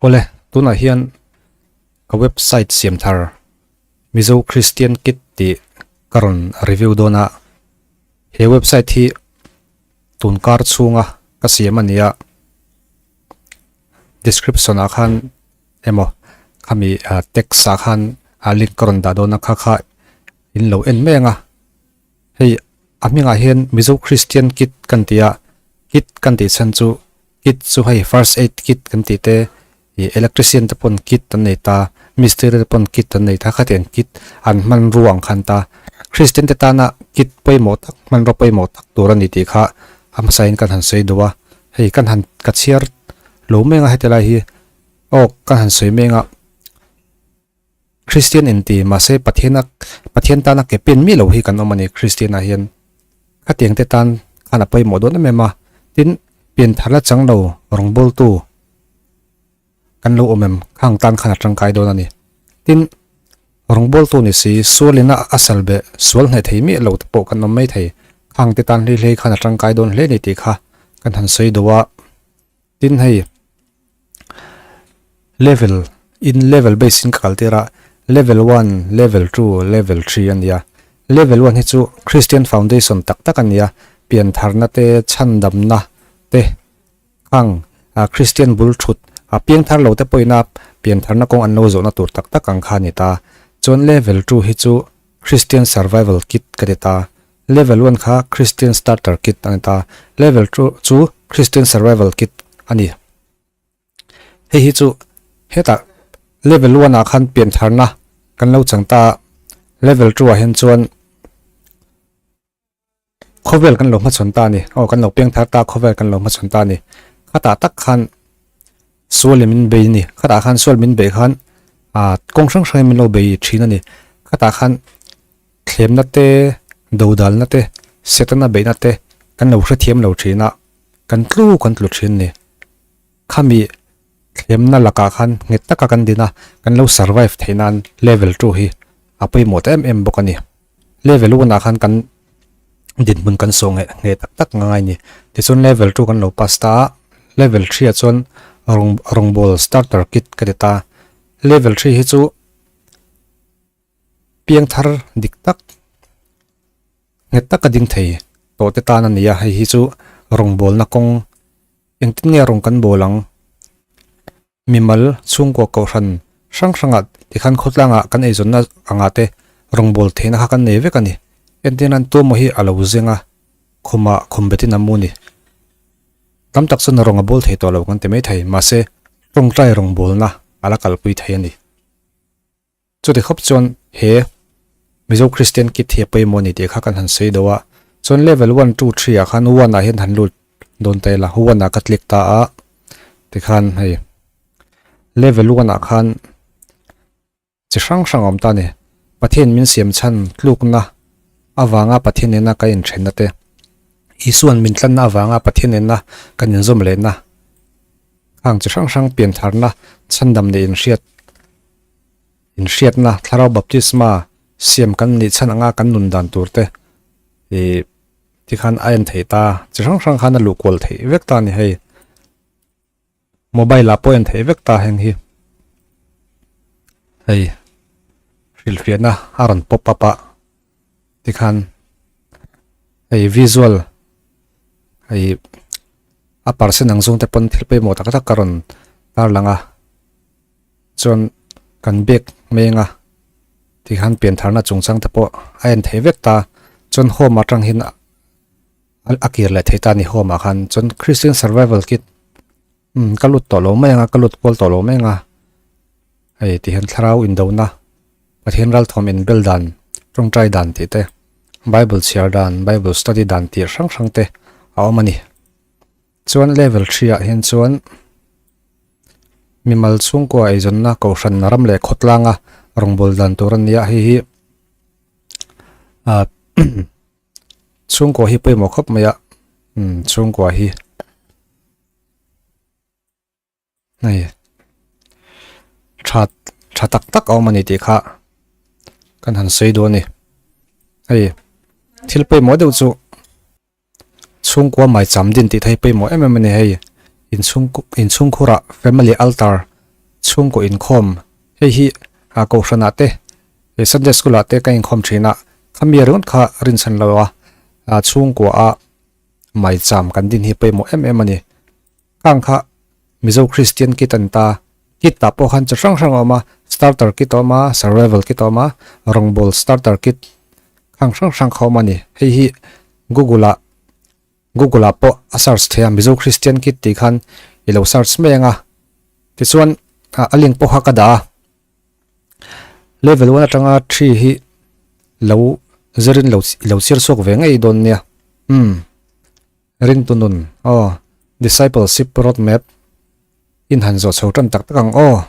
Awle, tunah hian ka website siam thar Mizo Christian Kit tih ka rawn review dawn a, he website hi tun kar chhunga ka siam a nia, description ah khan emaw khami text ah khan link ka rawn dah dawn a kha kha in lo en meng a, Hei a hmingah hian Mizo Christian kit kan ti a, kit kan tih chhan chu kit chu hei first aid kit kan tih te, ih electrician te pawn kit an nei ta, mistri te pawn kit an nei ta, khatiang kit an hmanrua ang khan ta. Christian te tana kit pawimawh tak, hmanrua pawimawh tak tur a ni tih kha a hmasain kan han sawi duh a, hei kan han ka chhiar lo meng a heti lai hi, awk kan han sawi meng a. Kristian enti, mahse Pathian a Pathian tan a ke pen mi lo hi kan awm a ni. Kristian ah hian khatiang te tan khan a pawimawh dawn em em a, tin pian thar la chang lo rawngbawl tu kan lo awm em khang tan khan a tangkai dawn a ni. Tin rawngbawl tu ni si sual in a a sal be sual hneh thei miah lo te pawh kan awm mai thei khang te tan hlei hlei khan a tangkai dawn hle a ni tih kha kan han sawi do a. Tin hei level in level base in ka kal tir a level one level two level three a ni a level one hi chu kristian foundation tak tak a ni a pian thar na te chhan dam na te ang a kristian bul thut a piang thar lo te pawh ina pian thar na kawng an lo zawh na tur tak tak ang kha a ni ta chuan level two hi chu kristian survival kit ka ti ta Level one kha Christian Starter Kit a ni ta, Level two chu Christian Survival Kit a ni. Hei hi chu hetah Level one ah khan pian tharna kan lo chang ta a, Level two ah hian chuan khawvel kan lo hma chhawn ta a ni, aw kan lo peng thar ta a khawvel kan lo hma chhawn ta a ni. Khatah tak khan sual in min bei a ni, khatah khan sual min beih khan aah kawng hrang hrangin min lo bei thin a ni, khatah khan. Thlemna te, dodalna te, Setana beihna te kan lo hrethiam lo thin a, kan tlu kan tlu thin ni. Khami thlemna lakah khan nghet taka kan din a, kan lo survive theih nan level two hi a pawimawh ta em em bawk a ni. Level one ah khan kan dinhmun kan sawh ngeh ngeh tak tak ngai ngai ni. Tichuan level two kan lo pass ta a, level three ah chuan rawngbawlh starter kit ka ti ta. Level three hi chu Piang thar dik tak nghet tak a ding thei tawh te tan a ni a, hei hi chu rawngbawlna kawng engtin nge rawn kan bawl ang? Mimal chhungkua kohhran hrang hrangah tikhan khawtlangah kan eizawnna angah te rawngbawlh theihna kha kan nei vek a ni. Engtin ran Tuamu hi a lo zeng a, khuma khum betin a mu a ni. Tam tak chuan rawnga bawl thei tawh lo kan ti mai thei, mahse tawngtai rawngbawlna a la kalpui thei a ni. Chute khawp chuan he Mizo Kristian kit hi a pawimawh a ni tih kha kan han sawi do a, chuan level one, two, three ah khan one ah hian han lut dawn ta ila, one ah ka click ta a tikhan hei level one ah khan chi hrang hrang a awm ta a ni, Pathian min siamchhan tlukna avanga Pathian nena kan inthenna te, Isuan min tlanna avanga Pathian nena kan inzawm lehna, khang chi hrang hrang pianthlarna chhandam leh inhriat Inhriatna, Thlarau Baptisma siam kan nih chhan anga kan nun dan tur te ih ti khan a en thei ta, chi hrang hrang khan a luh kual thei vek ta a ni hei. Mobile-ah pawh a en thei vek ta heng hi hei hrilhfiahna a rawn pop up a ti khan hei visual hei a parsen ang zung te pawn thil pawimawh tak tak a rawn tarlang a. Chuan kan bag meng a, tikhan pian tharna chung chang te pawh a en thei vek ta, chuan home ah tanghin a kir leh thei ta a ni home ah khan, chuan Christian Survival Kit umm ka lut tawh lo mai anga, ka lut kual tawh lo mai anga, hei tihian thlarau indona, Pathian ralthawm inbel dan, tawngtai dan tih te, Bible chhiar dan, Bible study dan tih hrang hrang te a awm a ni. Chuan level three ah hian chuan mimal chhungkua eizawnna kohhran ram leh khawtlanga rawngbawlh dan tur a ni a, heihi ah chhungkua hi pawimawh khawp mai a chhungkua hi. Hei, chat, chat tak tak awm ani tih kha kan han sawi dawn a ni. Hei, thil pawimawh deuh chu chhungkua mai cham din tih thei pawimawh em em a ni hei. Inchhungkhurah family altar chhungkaw inkhawm hei hi Kohhranah te, Sunday School-ah te kan inkhawm thin a, khami erawh kha a rinchhan lo a, chhungkuaha mai cham kan din hi pawimawh em em a ni. Khang kha Mizo Kristian kit a ni ta, kit tah pawh khan chi hrang hrang a awm a, starter kit a awm a, survival kit a awm a, rawngbâwl starter kit khang hrang hrang kha a awm a ni. Hei hi Google-a Google-a pawh a search theih a, Mizo Kristian kit tih khan i lo search mai ang a. Tichuan a link pawh kha ka dah a, Level one aṭanga three hi lo zirin i lo chhir chhuak ve ngei dawn nia. Umm Rintunun, Aw, Discipleship Roadmap in han zawh chho tan tak tak ang aw.